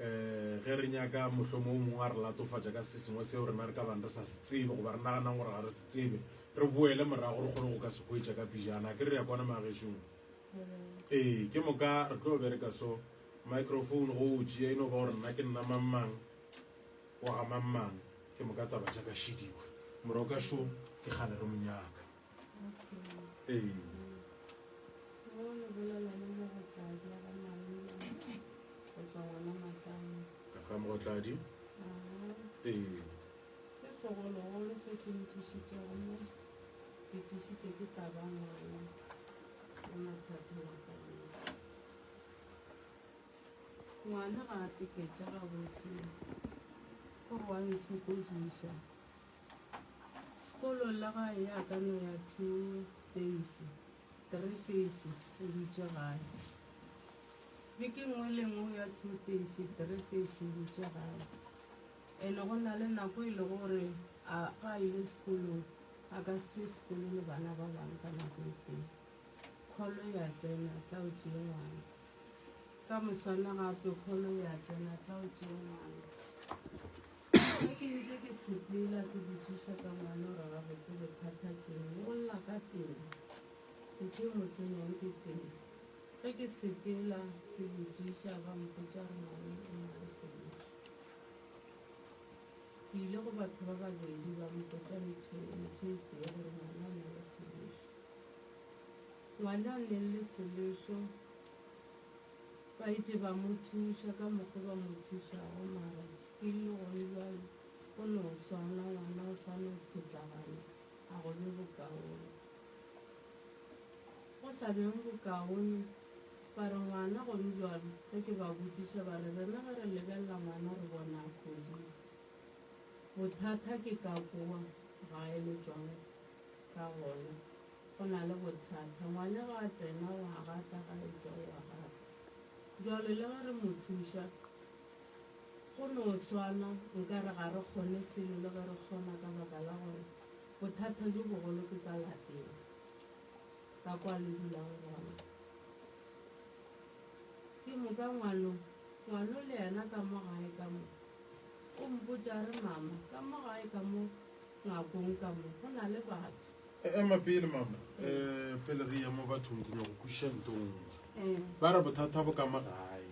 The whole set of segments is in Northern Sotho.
um ge re nyaka mohlomong o mongwe a re latofatša ka se sengwe seo rena re ka bang re sa se tsebe goba re naganang gore ga re se tsebe re boele morago re kgone go ka se hwetša ka pijana ke re ya kwana magešong ee ke moka re tlo bereka so microphone go o tšea e no ba gore nna ke nna mangmang wa ga mangmang ke moka taba ja ka šidiwa moroka šo ke kgale re monyaka mogotladi ee se segologolo se se ntlišitšego mo ke tlišitše ke taba ngwana ya mathata wa taba ngwana ga a teketša gabotse gore wa nsokodiša Sekolo la gae ya ka no ya two days, three days o dutše gae. Beke nngwe le nngwe ya two days, three days o dutše gae. Ene go na le nako e le gore a ga a ile sekolong a ka se tswe sekolo le bana ba bangwe ka nako e teng. Kgolo ya tsena tla o tšee ngwana. Ka moswana gape kgolo ya tsena tla o tšee ngwana. Ge ke ntše ke sepela ke botšiša ka ngwana gore gabotse bothata keng, o lla ka teng, ke tšee motse mong ke teng. Ge ke sepela ke botšiša ba mpotša gore ngwana o na le sebete. Ke ile go batho ba babedi ba mpotša ntho e ntho e tee gore ngwana o na le selešo. Ngwana o neng le selešo Ba itše ba mo thuša ka mokgo ba mo thušago, mara still le gone bjalo o no swana, ngwana o sa no phutlagana, a go be bokaone. Go sa beng bokaone, ba re ngwana go be bjalo, ge ke ba botšiša ba re rena ge re lebelela ngwana re bona a fodile. Bothata ke ka kwa ga eletšwang ka gona. Go na le bothata. Ngwana ge a tsena, o a rata, ga a etšwa, o a rata. Jwale le ge re mo thuša, go no swana nkare ga re kgone selo le ge re kgona ka baka la gore bothata bjo bogolo ke ka lapeng, ka kwa le dulang gona. Ke moka ngwano, ngwano le yena ka mo gae ka mo, o mpotša a re, Mama, ka mo gae ka mo ngakong ka mo, go na le batho. E, ema pele mama um pele re ye mo bathong ke nyako kwešiša ntongwe ba re bothata bo ka mo gae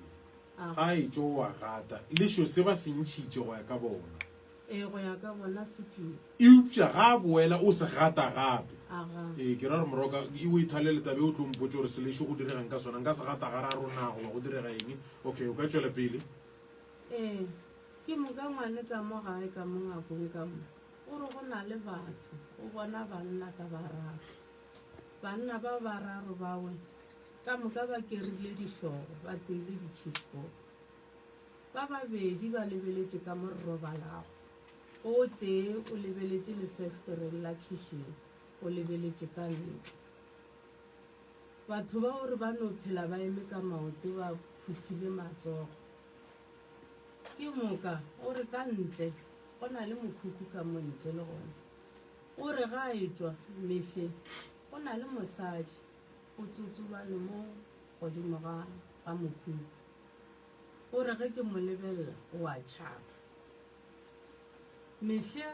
ga e tso wa gata le sho se ba se ntšhitše go ya ka bona ee go ya ka bona setumo eupša ga a boela o se gata gape ee ke ra gore moroka e o ithalele tabe o tlo mpotse gore selešo go diregang ka sona nka se gata ga ra rona goba go direga eng okay o ka tšwela pele ee ke moka ngwane ka mo gae ka mo ngakong ka mo O re go na le batho, o bona banna ka bararo. Banna bao bararo bawe ka moka ba kerile dihlogo, ba teile ditšhisboko. Ba babedi ba lebeletše ka mo re robalago, o tee o lebeletše lefestereng la khišeng, o lebeletše ka ntle. Batho bao re ba no phela ba eme ka maoto ba phuthile matsogo. Ke moka o re ka ntle go na le mokhukhu ka mo ntle le gone. O re ga a etšwa mehle go na le mosadi o tsotsobane mo godimo ga ga mokhukhu. O re ge ke mo lebelela o a tšhaba. Mehle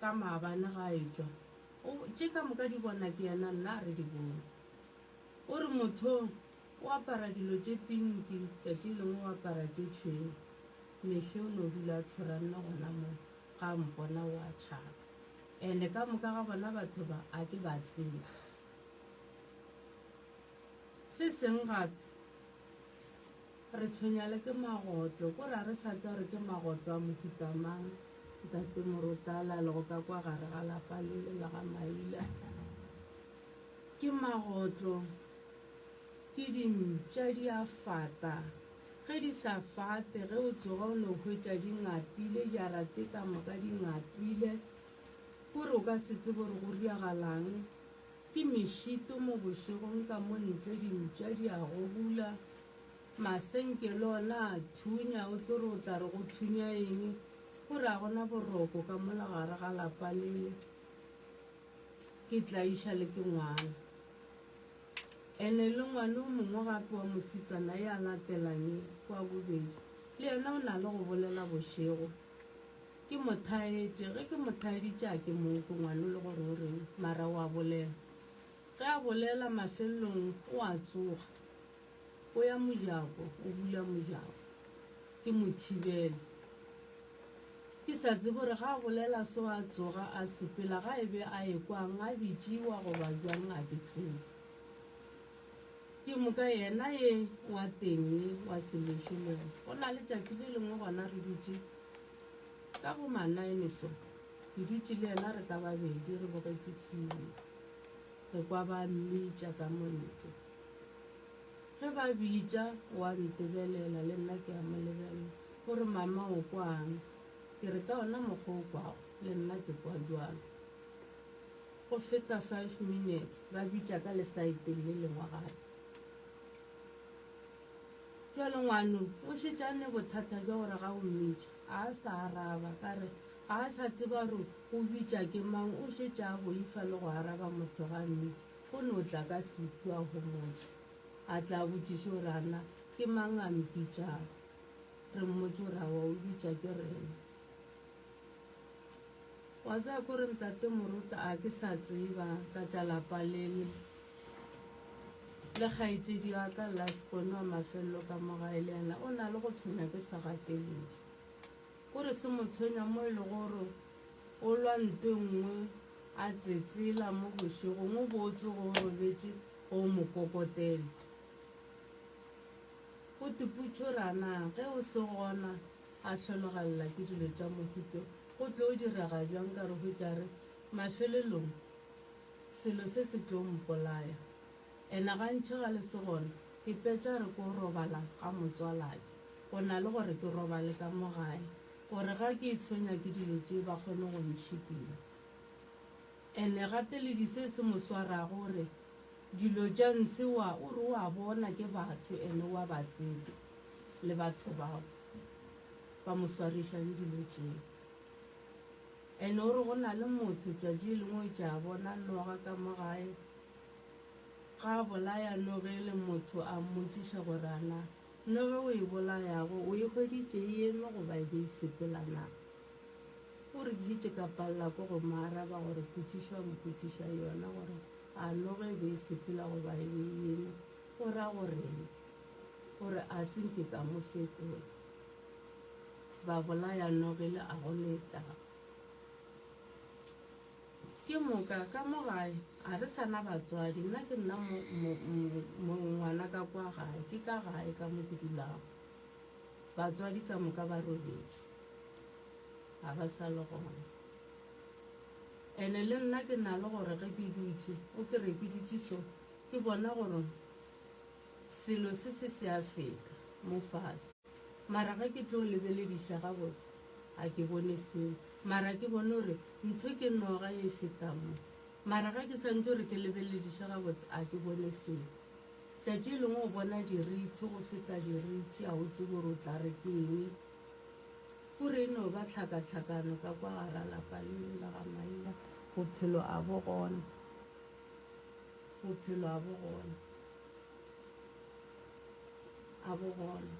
ka maabane ga a etšwa o tše ka moka di bona ke yena nna a re di bone. O re mothong O apara dilo tše pinki, tšatši lengwe o apara tše tšhweu. Mehli o no dula a tshwaranne gona mo, ga a mpona o a tšhaba. Ene ka moka ga bona batho ba, a ke ba tsebe. Se seng gape, re tshwenya le ke magoto, ko re a re sa tsa gore ke magoto a mohuta mang, Ntate Morotala a lego ka kwa gare ga lapa lele la ga Maila. Ke magotlo. Ke dimpša di a fata. Ge di sa fate, ge o tsoga o no hwetša di ngapile, jarate ka moka di ngapile. Ko re o ka se tsebe gore go riagalang. Ke mešito mo bošegong ka mo ntle, dimpša di a gobula. Masenke le ona a thunya, o tso re o tla re go thunya eng? Go re a gona boroko ka mola gare ga lapa lele. ke tlaiša le ke ngwana ene le ngwana o mongwe gape wa mositsana ya latelang kwa bobedi le yena o na le go bolela bošego ke mothaetše ge ke mothaeditše a ke mong ke ngwana le gore o reng mara wa bolela ge a bolela mafelelong o a tsoga O ya mojako, o bula mojako. Ke mo thibele. Ke sa tsebe gore ga a bolela so a tsoga a sepela ga e be a ekwang a bitšiwa goba jwang a ke tsebe. Ke moka yena ye wa teng ye wa seleše le yena. Go na le tšatši le lengwe gona re dutše ka bo manaene so ke dutše le yena re ka babedi re bogetše tshile re kwa ba mmitša ka montle Ge ba bitša, o a ntebelela, le nna ke a mo lebelela. O re, Mama, o kwang? Ke re, Ka ona mokgwa o kwago, le nna ke kwa bjalo. Go feta five minutes, ba bitša ka lesaeteng le lengwe gape. Bjale ngwano o šetše a ne bothata bja gore ga o mmitša, ga a sa araba. Ka re, Ga a sa tseba gore o bitša ke mang, o šetše a boifa le go araba motho ge a mmitša. Go no tla ka Setu a homotše, a tla a botšiše gore, A na ke mang a mpitšago? Re mmotše gore, A wa o bitša ke rena? Wa tseba ke gore, Ntate Moruta, a ke sa tseba ka tša lapa lele, le kgaetšedi wa ka Lascon wa mafelelo ka mo gae le yena o na le go tshwenya ke sa gateledi. O re se mo tshwenya mo e le gore o lwa ntwe nngwe a tsetsela mo bošegong o bo tsoge o robetše go o mo kokotela. O tiputšo rana ge o se gona a hlologalela ke dilo tša mohuto go tlo o direga bjang ka re hwetšare mafelelong selo se se tlo mpolaya. Ena gantši ga le se gore ke petša re ko robala ga motswalake go na le gore ke robale ka mo gae gore ga ke itshwenya ke dilo tše ba kgone go ntšhikina. Ene gateledi se se mo swarago o re dilo tša ntshe wa o re o a bona ke batho ene o a ba tseba le batho bao ba mo swarišang dilo tšeo. Ene o re go na le motho tšatši lengwe o tša bona noga ka mo gae Ga a bolaya no ge e le motho a mmotšiša gore a na no ge o e bolayago o e hweditše e eme goba e be e sepela na. O re ke dutše ka palela ko go mo araba gore potšišo a mpotšiša yona gore a no ge e be e sepela goba e be e eme go ra go reng. O re a se nke ka mo fetola. Babolaya no ge le a go letla. Ke moka ka mo gae a re sa na batswadi, nna ke nna mo, mo, mo, ngwana ka kwa gae, ke ka gae ka mo ke dulago. Batswadi ka moka ba robetše, ga ba sa le gona. Ene le nna ke na le gore ge ke dutše, o ke re ke dutše so, ke bona gore selo se se se a feta mo fase. Mara ge ke tlo lebelediša gabotse, ga ke bone selo. Mara ke bone gore ntho ke noga ye e feta mo. Mara ge ke santse gore ke lebelediše gabotse, ga ke bone selo. Tšatši e lengwe o bona dirithi go feta dirithi, ga o tsebe gore o tla re ke eng. Fura e no ba tlhakatlhakano ka kwa gara lapa leo la ga Maila. Bophelo ga bo gona. Bophelo ga bo gona. a bo gona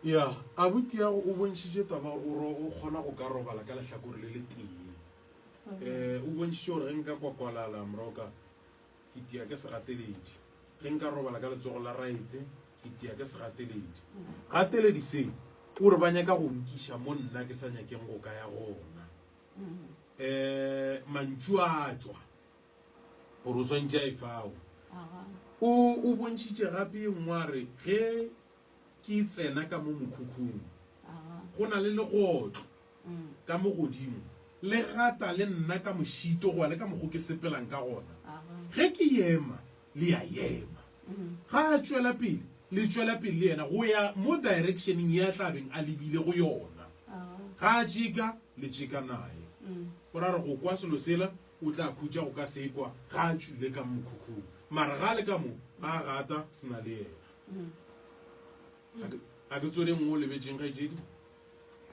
ya abuti yago o bontšhitše taba gore o kgona go ka robala ka lehlakore le le tee um eh, o bontšhitše gore ge nka kwakwalala moroka ke tia ke segateledi ge nka robala ka letsogo la raete ke tia ke segateledi gateledi se o re ba nyaka go nkiša mo nna ke sa nyakeng go ka ya gona um mantšu a tswa Gore o swantše a e fao. O, o bontšhitše gape ye nngwe a re, Ge Ke tsena ka mo mokhukhung, go na le legotlo ka mo godimo, le gata le nna ka mošito goba le ka mokgo ke sepelang ka gona. Ge Ke ema, le a ema. Ga A tšwela pele, le tšwela pele le Yena, go ya mo directioneng ye A tla beng a lebile go yona. Ga A tšeka, le tšeka Naye. Gore a re go kwa selo sela, O tla khutša go ka sekwa ga a tšwile ka mmokhukhung, mara ga a le ka mo, ba a rata se na le yena. Ga ke, ga ke tsweleng mo o lebetšeng, kgaetšedi?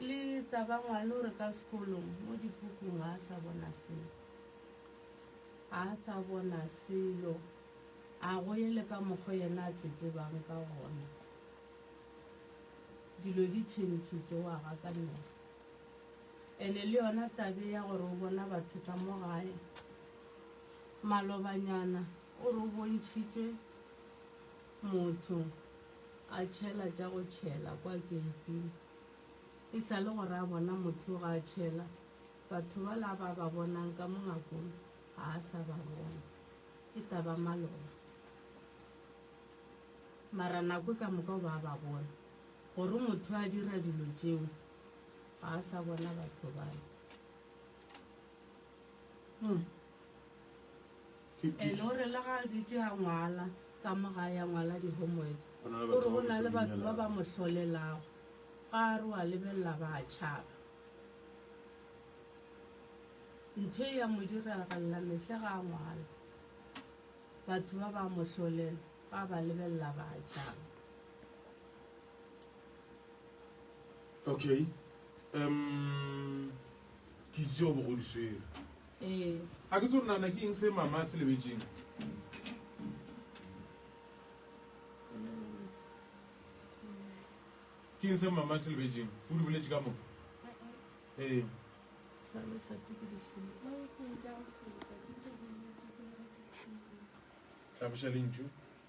Le taba ngwana o re ka sekolong, mo dipukung ga a sa bona selo. Ga a sa bona selo. A go ye le ka mokgo yena a te tsebang ka gona. Dilo di tšhentšhitše, o a gakanela. Ene le yona tabe ya gore o bona batho ka mo gae. Malobanyana o re o bontšhitšwe motho a tšhela tša go tšhela kwa geiting. E sa le gore a bona motho ga a tšhela, batho ba la ba ba bonang ka mo ngakong ga a sa ba bona. E taba maloba. Mara nako e ka moka o ba ba bona gore motho a dira dilo tšeo. ga a sa bona batho bale hmm. ene o re le ga a dutse a ngwala ka mo ga ya ngwala di-homework o re go na le batho ba ba mo hlolelago ga a re wa lebelela ba a tšhaba ntho e ya mo diragalela mehle ga a ngwala batho ba ba mo hlolela ba ba lebelela ba a tšhaba okay um ke itse go bogo di swere ee a ke tse gore nana ke eng se mama a se lebetseng ke eng se mama a se lebetseng o di boletse ka mo ee hlalosa ke ke dihlolo tlhaboša lentšu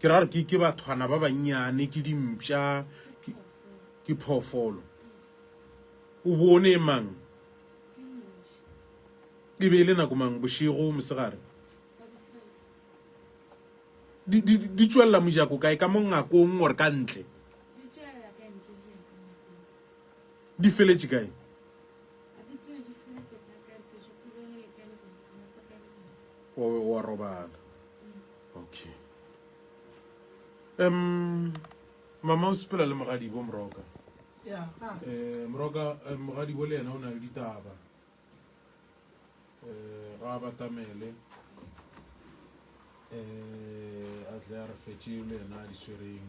ke ra gore ke bathwana ba bannyane ke dimpša ke phoofolo o bone e mang e be e le nako mang bošego mosegare di tswelela mojako kae ka mo ngakong gore ka ntle di feletše kae o wa robala okay um mama o sepela le mogadibo moroka um moroka eh, mogadibo le yena o na le ditaba um ga a batamele um a tle a re fetse le yena a di swereng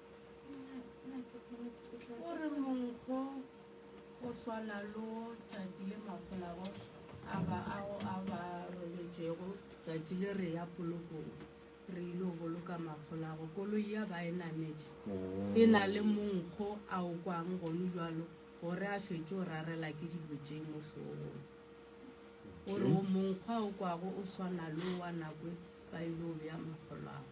O re monkgo o swana lo tšatši le mafolago a ba ao a ba robetšego tšatši le re ya polokong re ile go boloka mafolago koloi ya ba e nametše mm. e na le monkgo a o kwang gone jalo gore a fetše o rarela ke dibotšeng mo hlogong o re o monkgwa o kwago o swana le wa nakwe ba ile o beya mafolago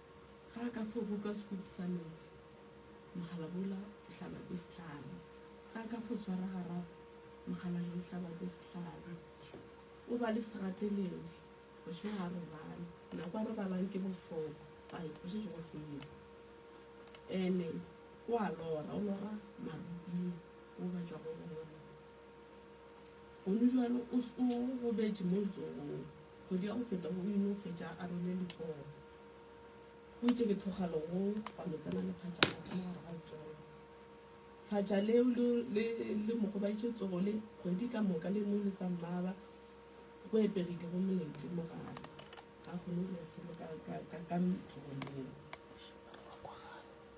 Ge a ka fo buka sekutu sa meetse, mogalabola o tla ba be sehlabi. Ge a ka fo swara garapo, mokgalajwe o tla ba be sehlabi. O ba le segateledi, bošego ga a robale, nako a robalang ke bofoko, a ekwa o šetše go sele. Ene o a lora, o lora marubing, o batšwa go bona. Gomme jalo o o gobetše mo letsogong, kgwedi ya go feta go ino fetša a rwele letsogo. Go itše ke thoga legong gwa mo tsena le phatša la ka mo gare ga letsogo. Phatša leo le, le, le mo gobaitše letsogo le, kgwedi ka moka le no le sa mmaba, go epegile go molete mo gare. Ga kgone go dira selo ka, ka, ka, ka letsogo leo.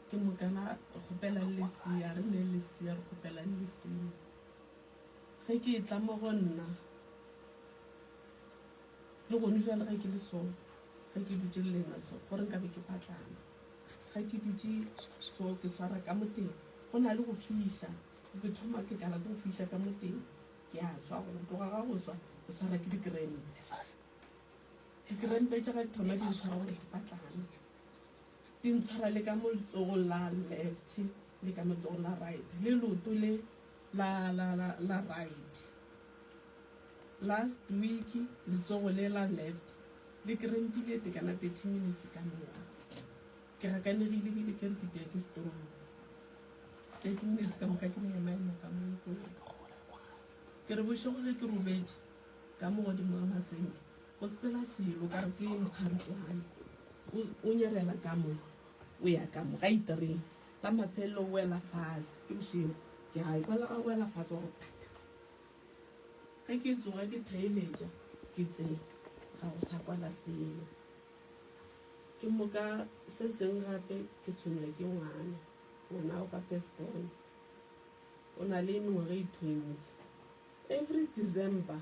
Ke moka la re kgopelang lesea, re ne lesea, re kgopelang lesea. Ge ke e tla mo go nna, le gone jwa le ge ke le so, ge ke dutse le lena so, gore nka be ke patlana. Ge ke dutse so, ke swara ka moteng, go na le go fiša, ke thoma ke tlala ke go fiša ka moteng, ke a swa go tloga ga go swa, ke swara ke dikrempe. Dikrempe tša ga di thoma di ntshwara gore ke patlana. Di ntshwara le ka mo letsogong la left le ka letsogong la right le loto le la la la la right. Last week letsogo le la left le krempile te kana 30 minutes ka moka. Ke gakanegile bile ke re ke tea ke strong. 30 minutes ka moka ke mo ema ema ka mo ko. Ke re bošego ge ke robetše ka mo godimo ga masenke. O sepela selo, o ka re ke mokgaritšogana, o, o nyerela ka mo, o ya ka mo, gaitereng. La mafelelo o wela fase, ke bošego. Ke a ekwa le ga o wela fase, wa go phata. Ge ke tsoga ke theeletša, ke tsee, ga go sa kwala selo. Ke moka se seng gape ke tshwenywa ke ngwana, ngwana wa ka first born. O na le mengwaga e twenty. Every December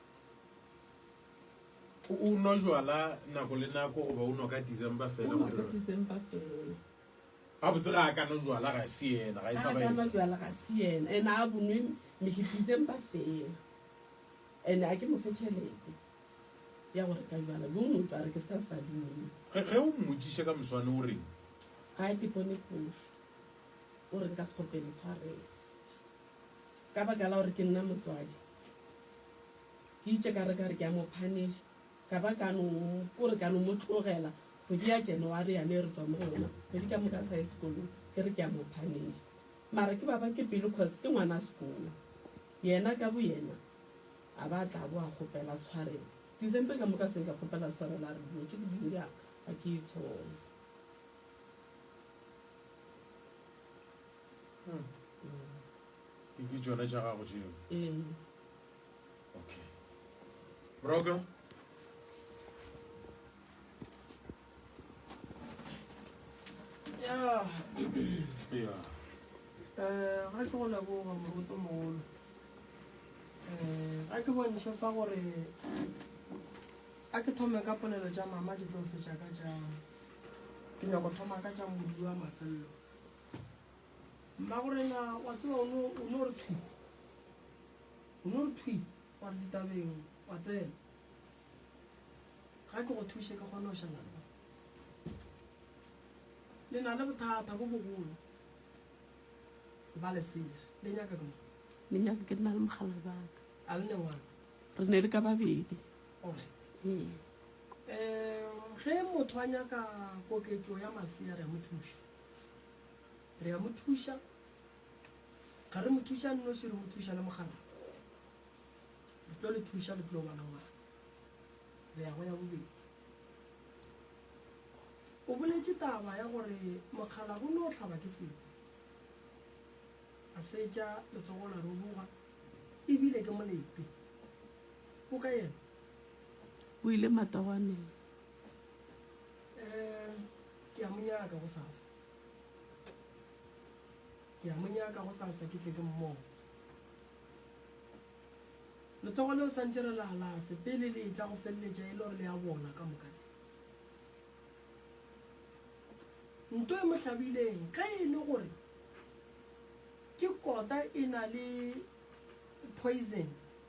O nwa jwala nako le nako goba o nwa ka December fela? O nwa ka December fela. Ga botse ga a ka nwa jwala ga se yena, ga e sa ba yena. Ga a ka nwa jwala ga se yena. Ene a bonwe mehli December fela. Ene a ke mo fe tšhelete ya go reka jwala. Jo no tswa re ke sa sa dine. Ge ge o mmotsiše ka moswane o reng? Ga ke bone phofu. O reng ka sekgopelo tshwarelo. Ka baka la gore ke nna motswadi, ke itše ka re ka re ke a mo punisha, ka ba ka no kore ka no mo tlogela kgwedi ya January yane e re tswa mo go yona, kgwedi ka moka sa ye sekolong, ke re ke a mo punisha. Mara ke baba ke pelo cause ke ngwana sekolo, yena ka bo yena a ba tla bo a kgopela tshwarelo. December ka moka se nka kgopela tshwarelo a re dilo tše ke di dira ga ke itshole. ke ke tšone tša gago tšeo ee. okay broker ya ya eh ga ke go leboga moruto mogolo eh ga ke bontšhe fa gore a ke thome ka polelo tša mama di tlo fetša ka jang ke nyako thoma ka tša modi wa mafelelo mmagorena wa tseba o no o no re thwi o no re thwi wa re ditabeng wa tsena ga ke go thushe ke kgone go šala le le na le bothata bo bogolo ba lesea le nyaka ke le nyaka ke nna le mogala baka a le ne ngwana re ne le ka babedi alright ee um ge motho a nyaka koketso ya masea re a mo thuša Re a mo thuša. Ga re mo thuša nnoši, re mo thuša le mogalana. Re tlo le thuša, le tlo bana ngwana. Re ya go ya bobedi. O boletše taba ya gore mokgala go no hlaba ke sefo. A fetša letsogo la roboga, ebile ke molepe. O ka yena? O ile matogwaneng. um ke a mo nyaka go sasa ke a mo nyaka go sasa ke tle ke mmone letsogo leo santse re le alafe pele le etla go feleletša e le gore le ya bona ka moka nto e mo hlabileng ge e le gore ke kota e na le poison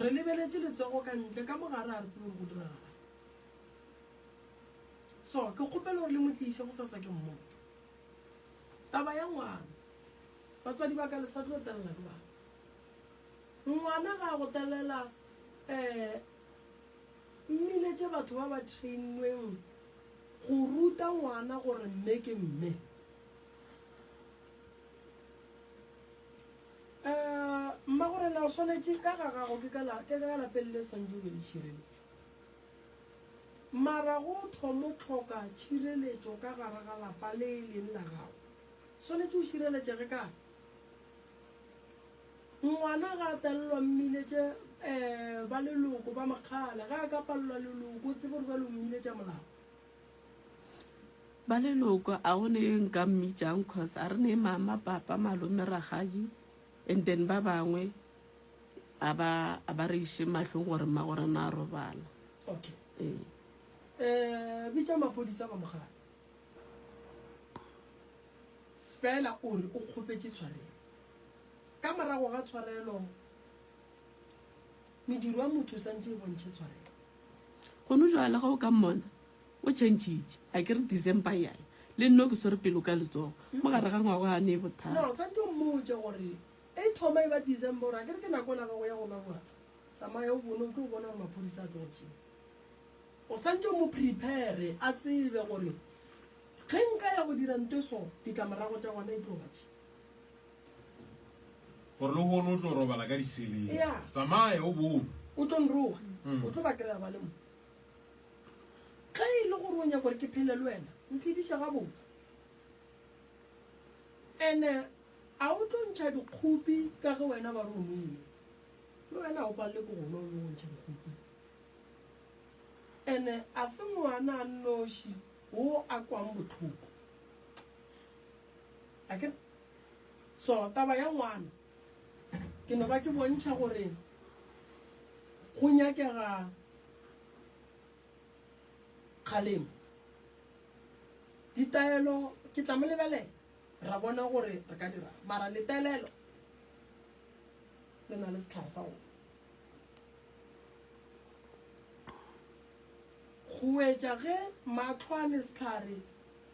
Re lebeletše letsogo ka ntle, ka mo gare ga re tsebe gore go diragalang. So, ke kgopela gore le mo tliše go sasa ke mmoto. Taba ya ngwana, batswadi ba ka le sa tlo telela ke bana. Ngwana ga a go telela um mmile tše batho ba ba trainweng go ruta ngwana gore mme ke mme. Eh, mmagorena o swanetše ka ga gago ke ka lapeng le swantse o be le tšhireletšo mara go thomo tlhoka tšhireletšo ka gare ga lapa le e leng la gago swanetše o šireletšege ka ngwana ga a talelwa mmile tše um ba leloko ba makgala ga a ka palelwa leloko tsebe gore ba le mmile tša molao ba leloko a go ne yo nka mmitšang cause a re ne mama papa malome ragadi and then ba bangwe a ba a ba re iše mahlong gore mma gore na a robala okay ee eh bitsa mapodisa ba mogala fela o re o kgopetse tshwarelo ka morago ga tshwarelo mediro ya motho o santse e bontšhe tshwarelo go no jwale ga o ka mmona o changitše a ke re december ya le nno ke swere pelo ka letsogo mm. mo gare ga ngwago ga ne e bothata no sa ntho mmotse gore e thoma e ba december a ke re ke nako la gago ya go laboa tsamaya o bone o tlo bona gore maphodisa a tlotse o sa ntse mo prepare a tsebe gore ge nka ya go dira nto so ditlamorago tsa gona e tlo batse gore le gone o tlo robala ka diseleng tsamaye o bone o tlo nroga mm. o tlo ba kry-a ba le mo ge e le gore o nyaka gore ke phele le wena mphediša gabotse ande a o tlo ntšha dikgopi ka ge wena ba re o noile le wena o palele ko gona o yo o ntšha dikgopi ande a se ngwana a nnoši o a kwang botlhoko a kere So taba ya ngwana ke no ba ke bontšha gore go nyakega kgalemo ditaelo ke tla mo lebelela ra bona gore re ka dira mara letelelo le na le setlhare sa gone go etša ge matlho a le setlhare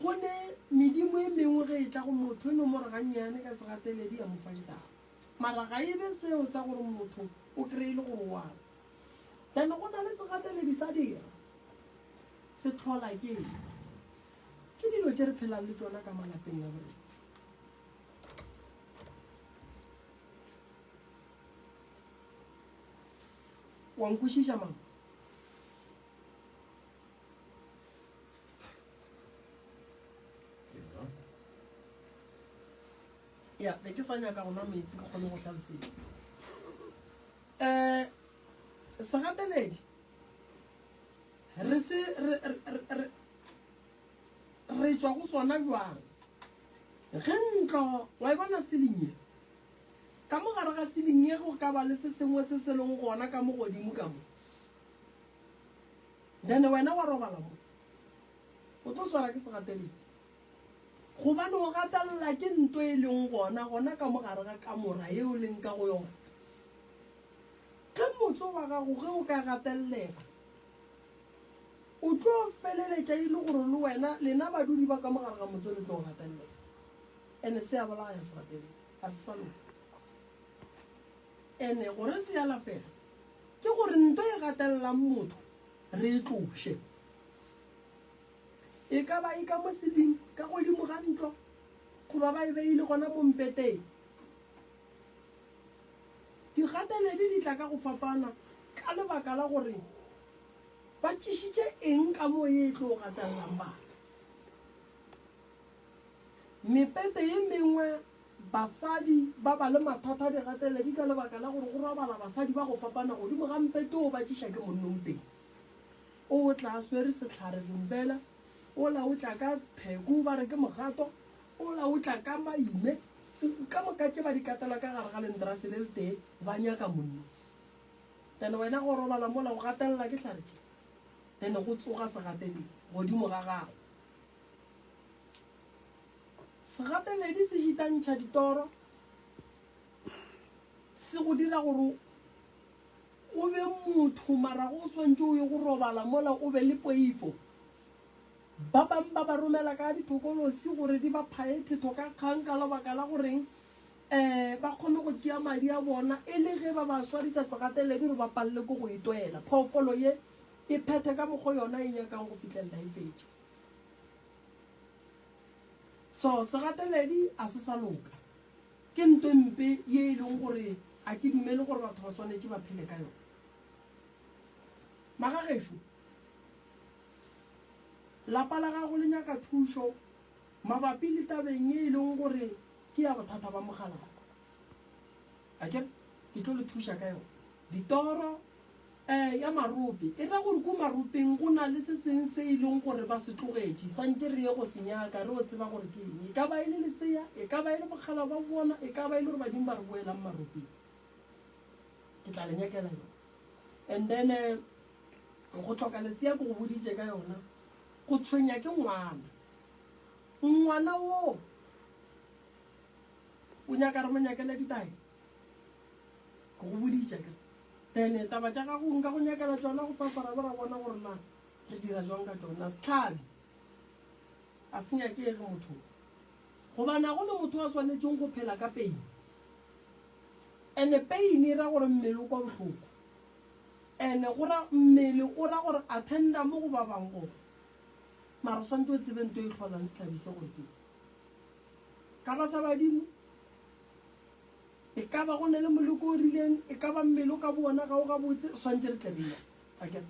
Go ne medimo e mengwe ge e tla go motho e no mo re gannyane ka segateledi ya mo fa ditaba. Mara ga e be seo sa gore motho o kreye e le gore o a re. Then go na le segateledi sa dira. Se tlhola ke eng? Ke dilo tše re phelang le tšona ka malapeng a borena. Wa nkwešiša mama? ya be ke sa nyaka gona metsi ke kgone go tlhalosedi um eh, segateledi re se re tswa go sona jwang ge ntlo wa e bona selinye ka mo gare ga selinye go ka ba le se sengwe se se leng gona ka mo godimo ka mo Then wena wa robala mo. O tlo swara ke segateledi. Gobane o gatelela ke nto e leng gona, gona ka mo gare ga kamora ye o leng ka go yona. Ge motse wa gago ge o ka gatelela, o tlo feleletša e le gore le wena, lena badudi ba ka mo gare ga motse le tlo gatelela. Ene se a bolaya segateledi. Ga se sa loka. Ene gore se alafege, Ke gore nto e gatelelang motho re e tloše. E ka ba e ka mo seding, ka godimo ga ntlo, goba ba e beile gona mo mpeteng. Digateledi di tla ka go fapana ka lebaka la gore ba tšešitše eng ka moo ye e tlo gatelelang batho. Mepete ye mengwe Basadi ba ba le mathata a digateledi ka lebaka la gore go robala basadi ba go fapana godimo ga mpete o batšiša ke monnonteng. O o tla a swere sehlare lumbela, ola o tla ka pheku ba re ke mogato, ola o tla ka maime, ka moka tše ba di katela ka gare ga lentrase le letee ba nyaka monno. Then wena go robala mola o gatelela ke hlare tše, then go tsoga segateledi godimo ga gago. Segateledi se šitantšha ditoro, se go dira gore o be motho mara go swantše o ye go robala mola o be le poifo. Ba bang ba ba romela ka dithokolosi gore di ba phaye thetho ka kgang ka lebaka la goreng um ba kgone go tšea madi a bona e le ge ba ba swarisa segateledi gore ba palele ko go e toela. Phoofolo ye e phethe ka mokgwa yona e nyakang go fitlhelela e fetše. So segateledi a se sa loka, ke nto e mpe ye e leng gore a ke dumele gore batho ba swanetše ba phele ka yona. Magagešo, lapa la gago le nyaka thušo mabapi le tabeng ye e leng gore ke ya bothata ba mogalakwa. a ke ke tlo le thuša ka yone ditoro um ya marope e ra gore ko maropeng go na le se seng se e leng gore ba se tlogetše santse re ye go se nyaka re o tseba gore ke eng e ka ba e le lesea e ka ba e le bokgala ba bona e ka ba e le gore badimo ba re boelang maropeng ke tla le nyakela yone and then eh, go tlhoka lesea ke go boditše ka yona go tshwenya ke ngwana ngwana woo o nyaka re mo nyakele ditae ke go boditša ka tene taba tša gago nka go nyakela tsona go fasara bo ra bona gore na re dira jwang ka tsona setlhabi a se nyakege motho gobana go le motho wa swanetseng go phela ka peine ande peine e ra gore mmele o kwa bohloko ande gora mmele o ra gore attenda mo go ba bang gore mara o swanetse o tsebe nto e tlholang setlhabi se gore ke Ka ba sa badimo? E ka ba go ne le moleko o rileng, e ka ba mmele o ka bona ga o gabotse, swantse re tle re ya. A ke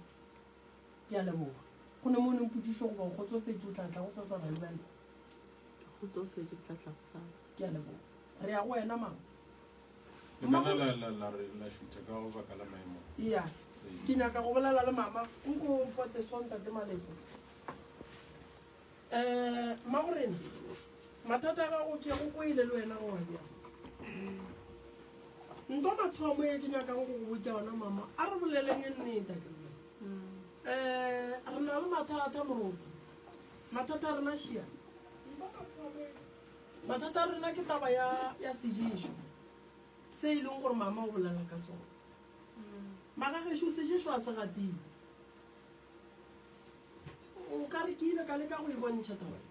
ke a leboga. Go ne mo o neng pudiso goba o kgotsofetse o tla tla go sasa ra lebella. Ke kgotsofetse ke tla tla go sasa. Ke a leboga. Re ya go wena mama. Lemana la la la re la shutha ka go baka la maemo. Iya. Ke nyaka go bolela le mama. Nko mpote sontate malefo. Um mmagorena mathata a gago ke go kwele le wena gore bjang nto mathomo e ke nyakang go go botsa ona mama a re boleleng e nneta ke um eh, re na le mathata moroto mathata a rena šia mathata a rena ke taba ya sejeso se e leng gore mama o bolela ka sone magagešo sejeso a se gatile o ka re ke ile ka leka go e bontšha taba e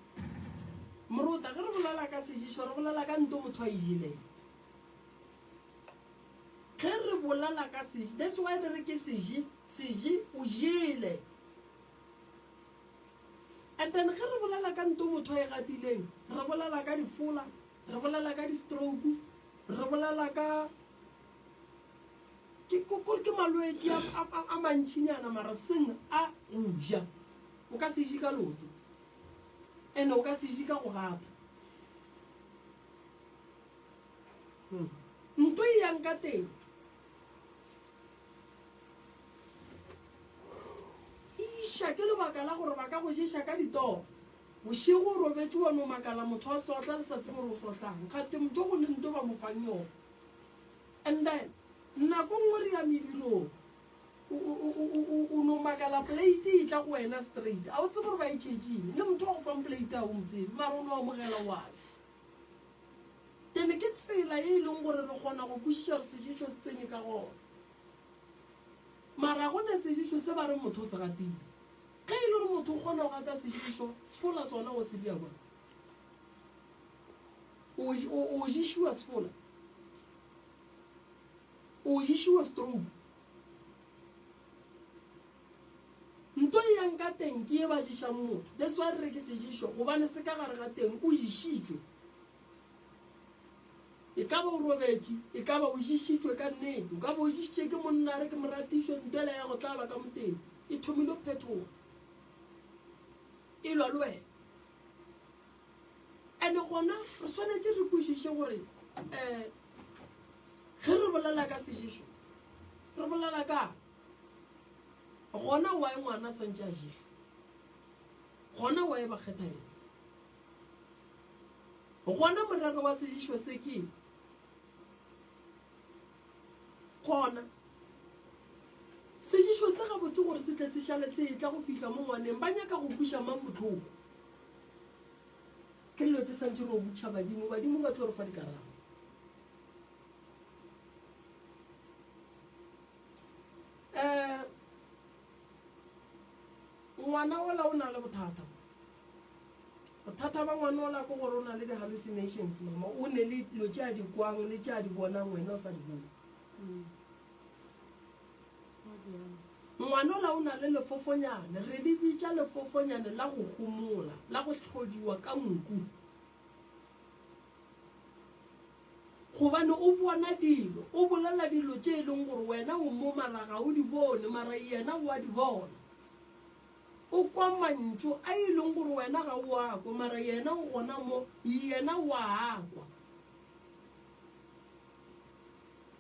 morota ge re bolela ka sešišo re bolela ka nto motho a e jeleng ge re bolela ka seši that's why re re ke seši seši o jele and then ge re bolela ka nto motho a e gatileng re bolela ka difola re bolela ka di-stroke re bolela ka ke kore ke malwetse a mantšhinyana mara seng a goja o ka se je ka loto and o ka se je ka go gata hmm. nto e yang ka teng iša ke lebaka la gore ba ka go jesa ka ditoro Bošego o robetše wa no makala motho a sohla le sa tsebe gore o sohlang gate motho go le nto ba mo fang yona and then nako nngwe re ya medirong o no makala plate e tla go wena straight a o tsebe gore ba e tšhetšeng le motho wa go fang plate a o motsebe mara o no amogela wabe ene ke tsela e e leng gore re kgona go kwešiša re sejišo se tsene ka gona mara go ne sejišo se ba re motho se gatile Ge e le gore motho o kgona go gata sešišo, sefola sona o se bja bjang? O, o, o ješiwa sefola? O ješiwa stroke? nto e yang ka teng ke e ba ješang motho that's why re re ke sejišo gobane se ka gare ga teng o išitšwe E ka ba o robetše, e ka ba o ješitšwe ka nnete, o ka ba o ješitše ke monna re ke moratišo, ntwela ya go tlaba ka moteng e thomile go phethoga, e lwa le wena. Ene gona re swanetše re kwešiše gore um ge re bolela ka seješo re bolela kang, gona wae ngwana a santše a ješwa, gona wae ba kgetha yena, Gona morero wa segišo se ke gona. Segišo se gabotse gore se tle se šale se etla go fihla mo ngwaneng. Ba nyaka go kwiša mang bohloko? Ke dilo tse santše re o botša badimo, badimo ba tlo re fa dikarabo. Um ngwana ola o na le bothata. Bothata ba ngwana ola ke gore o na le di-hallucinations, mama. O ne le dilo tše a di kwang le tše a di bonang wena o sa di bone. Mm. Ga bjalo. Ngwana ola o na le lefofonyane, re le bitša lefofonyane la go homola, la go hlodiwa ka nku. Gobane o bona dilo, o bolela dilo tše e leng gore wena o mo mara ga o di bone, mara yena o a di bona. o kwa mantšu a e leng gore wena ga o a kwa mara yena o gona mo yena o a kwa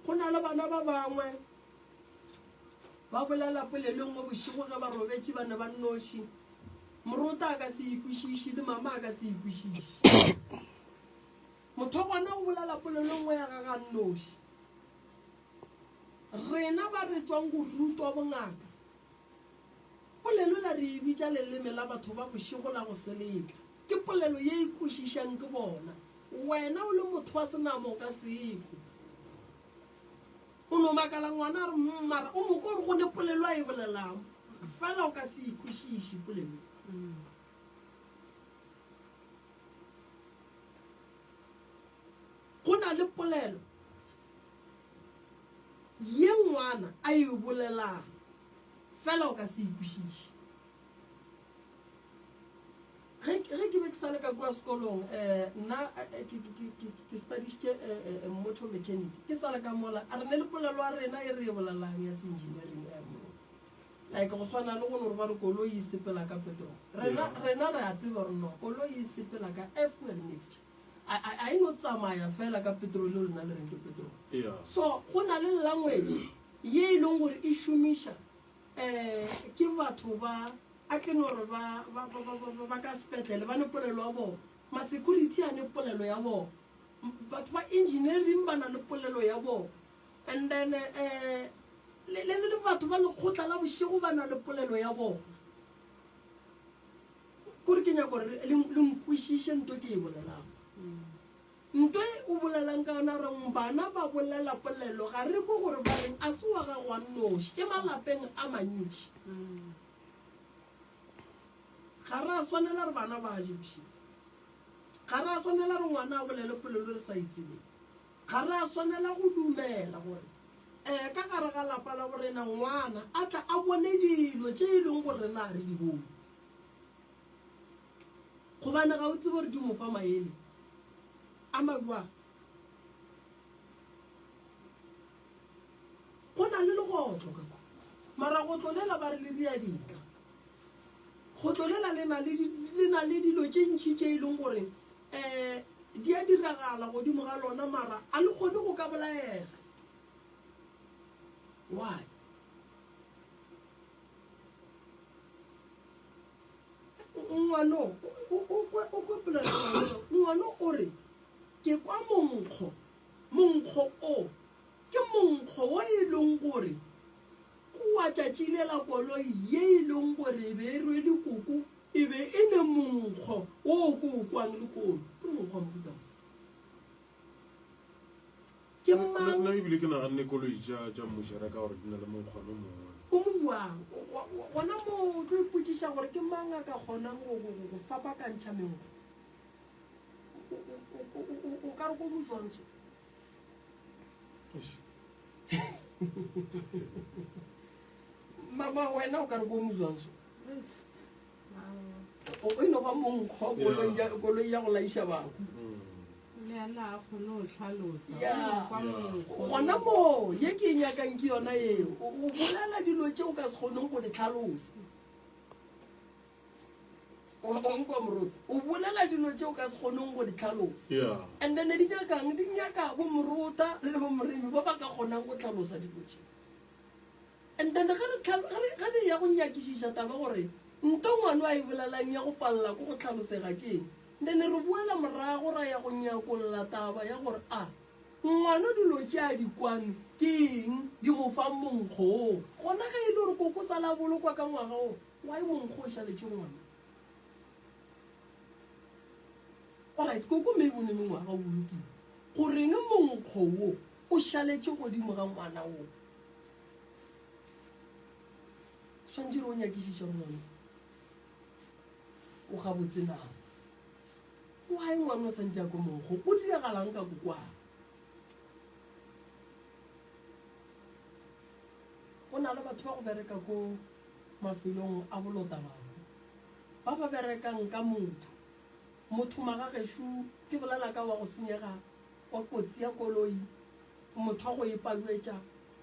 go na le bana ba bangwe ba bolela polelo nngwe bošego ge ba robetše ba ne ba nnoši morota a ka se ikwešiši le mama a ka se ikwešiši motho gona o bolela polelo nngwe ya ga ga nnoši rena ba re tswang go rutwa bongaka Polelo la re e bitša leleme la batho ba bošego la go seleka. Ke polelo ye e kwešišang ke bona. Wena o le motho wa senama o ka se ekwe. O no makala ngwana a re mm mara o mo kwa gore go ne polelo a e bolelang fela o ka se e kwešiše polelo ye. Go na le polelo. Ye nngwana a e bolelago, fela o ka se e kwešiše. Ge, ge ke be ke sa le ka kua sekolong, um, nna ke, ke, ke, ke, ke studišitše, um, motor mechanic. Ke sa le ka mola, a re ne le polelo ya rena ye re e bolelago ya se-engineering, um, like go swana le go no re ba re koloi e sepela ka petrol. Rena, rena re a tseba gore no, koloi e sepela ka air-fuel mixture. a, a, a e no tsamaya fela ka petrol yo lena le reng ke petrol yeah. so go na le language ye e leng gore e šomiša um ke batho ba a ke no re ba, ba, ba, ba, ba, ba ka sepetlele ba ne polelo ya bona ma-security a ne polelo ya bona batho ba engineering ba na le polelo ya bona and then um le, le, le batho ba lekgotla la bošego ba na le polelo ya bona Kore ke nyaka gore le, le nkwešiše nto ke e bolelago. Nto e o bolelang ka yona reng bana ba bolela polelo ga re ko gore ba reng a se wa gago wa nnoši ke malapeng a mantši. Ga ra swanela re bana ba je bošego. Ga ra swanela re ngwana a bolele polelo re sa e tsebeng. Ga re a swanela go dumela gore ee ka gare ga lapa la borena ngwana a tla a bone dilo tše e leng gore rena ga re di bone. Gobane ga o tsebe gore di mo fa maele a majwang. Go na le legotlo ka kwa, mara gotlo lela ba re le riadika. Gotlo lela le na le dilo tše ntši tše e leng gore Ee, di a diragala godimo ga lona, mara a le kgone go ka bolaega. Why? Ngwano, o kwe polelo ngwano. Ngwano o re, ke kwa monkgo, monkgo o, ke monkgo wo e leng gore kua tšatši le la koloi ye e leng gore e be e rwele koko E be e le monkgo o ko o kwang le kono. Ke monkgo wa mohuta mang? Ke mang? Nna ebile ke naganne koloi tša tša mmušara ka gore di na le monkgwano mongwe. O mo buang gona mo o tlo ipotsiša gore ke mang a ka kgonang go go go go fapakantšha menkgo. O ka re ko mo jwang so? mama wena o ka re ko mozwang so o e no ba monkgo koloi ya go laiša bako gona moo ye ke e nyakang ke yona eo o bolela dilo tse o ka se kgoneng go di tlhalosa onkwa moruti o bolela dilo tse o ka se kgoneng go di tlhalosa and then di nyakang di nyaka bo morota le bo moremi ba ba ka kgonang go tlhalosa dilo tse and then ge re ya go nyakišiša taba gore nto ngwane a e bolelang ya go palela ko go tlhalosega ke eng then re boela morago ra ya go nyakolola taba ya gore a ah, ngwana dilo tse a di kwame ke eng di mo fa monkgong gona ge e le gore koko sa la bolokwa ka ngwaga o Wa e mong go ja letše ngwana. Alright, koko maybe o ne mengwaga o lokile. Goreng monkgo wo o šaletše godimo ga ngwana wo? Swantše re o nyakišiše gore ngwana o gabotse na. Why ngwana o santše a ko monkgo? O diragalang ka kokwaa? Go na le batho ba go bereka ko mafelong a bolota bangwe ba ba berekang ka motho motho magagešo ke bolela ka wa go senyega wa kotsi ya koloi motho wa go e palwetša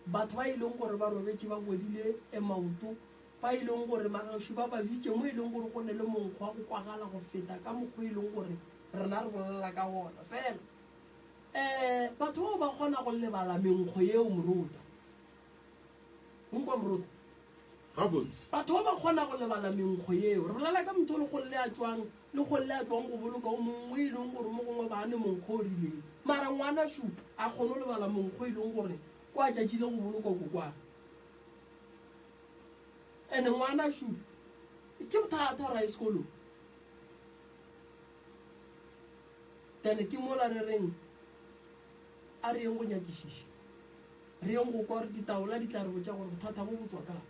batho ba e leng gore ba robetše ba godile e maoto ba e leng gore magagešo ba ba jwitše mo e leng gore go ne le monkgo wa go kwagala go feta ka mokgwa e leng gore rena re bolela ka gona fela um batho bao ba kgona go lebala menkgo yeo morota Nkwa moruti. Gabotse. Batho ba ba kgona go lebala menkgo yeo. Re bolela ka motho o le golle a tšwang le golle a tšwang go boloka o mongwe e leng gore mo gongwe ba ne monkgo o rileng. Mara ngwana shu a kgone go lebala monkgo e leng gore kwa tšatši le go bolokwa ko kwa. Ene ngwana shu ke bothata gore a ye sekolong. Then ke mola re reng. A re yeng go nyakišiša. Re yeng go kwa gore ditaola di tla re botša gore bothata bo bo tšwa kae.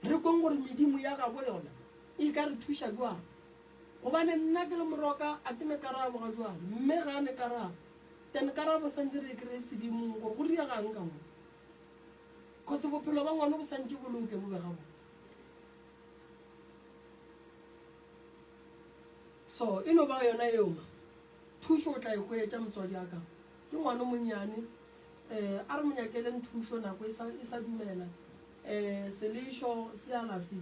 Re kweng gore medimo ya gabo yona e ka re thuša bjang. Gobane nna ke le moroka a ke ne karabo ga jwale, mme ga a ne karabo. Then karabo santše re e kreye sedimong gore go riregang ka mo. Kgosi bophelo ba ngwano bo santše bo loke bo be gabotse. So e no ba yona yeo ma. Thušo o tla e hwetša, motswadi a ka. Ke ngwana o monnyane. Eh, a re mo nyakeleng thušo, nako e sa, e sa dumela. Eh, selešo se alafi.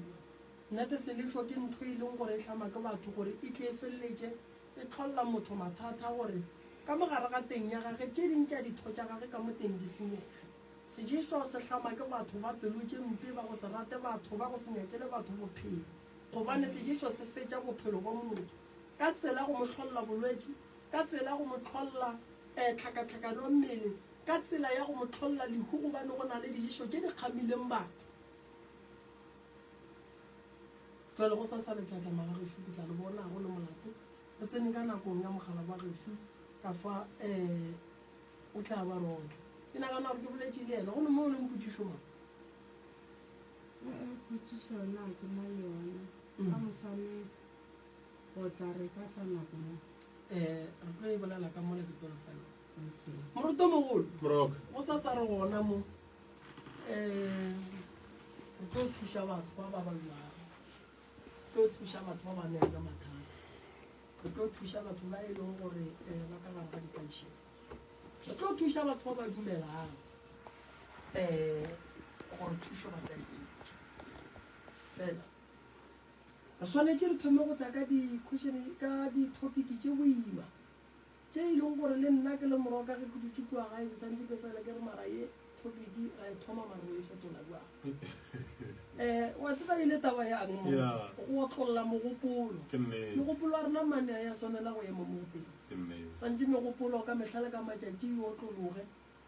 Nnete, selešo ke ntho e leng gore e hlama ke batho gore e tle e feleletše e hlolla motho mathata gore ka mo gare ga teng ya gage tše ding tša ditho tša gage ka mo teng di senyege. Seješo se hlama ke batho ba pelo tše mpe, ba go se rate batho, ba go se nyakele batho bophelo, gobane seješo se fetša bophelo bwa motho. ka tsela go mo hlolla bolwetši, ka tsela go mo hlolla eh, tlhakatlhakano mmele, ka tsela ya go mo hlolla lehu gobane go na le dijeso tše di kgamileng batho. Jwale go sa sa letlatlama la gešo ke tla le bona go le molato re tsene ka nakong ya mogala wa gešo ka fa eh o tla ba rona ke nagana gore ke boletše le yena go ne mo o leng potšišo mang potšišo yona ke na le yona ka moswane O tla re ka tsa nako mo. Eh, re tlo e bolela ka mola ke tlo le fela. Okay. Moruto mogolo. Brok. Go sa sa re gona mo. Eh, re tlo thuša batho ba ba ba lwana. Re tlo thuša batho ba ba neng ka mathata. Re tlo thuša batho ba e leng gore eh ba ka gare ga ditaišeng. Re tlo thuša batho ba ba dumelang. Eh, gore thušo ba tla e fela. Re swanetše re thome go tla ka di-question, ka di-topic tše boima, tše e leng gore le nna ke le morwa ka ge ke dutše kua gae ke santše ke fela ke re mara ye topic ra e thoma mara re e fetola jwang. um wa tseba e le taba yang mo go otlolola mogopolo. Mogopolo wa rena mane a ya swanela go ema mo go pele, santše megopolo ka mehla le ka matšatši e otlologe.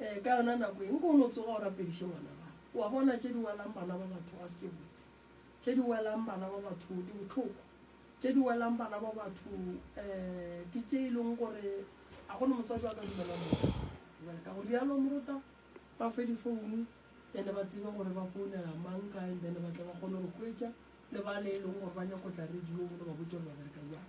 Ee, ka yona nako e, nko o no tsoga o rapediše ngwana gago. O a bona, tše di welang bana ba batho ga se tše botse. Tše di welang bana ba batho di bohloko. Tše di welang bana ba batho um ke tše e leng gore ga go ne motswadi wa ka dumelang motho jale. Ka go rialo morota ba fe difounu then ba tsebe gore ba founela mang kae, then ba tle ba kgone go re hwetša le ba le e leng gore ba nyako tla radio le ba botse gore ba bereka jang.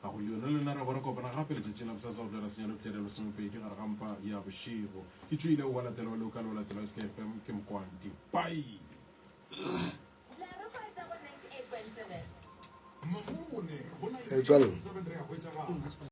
Ga go leono le lena, ra bo ra kopana gape letšatšing la bosasa go tloela senyalo pšere ya lesomepedi gare ga mpa ya bošego. Ke tšoile wa latela wa loka le wa latela wa SKFM, ke Mokwanti. Bye! Metswalle.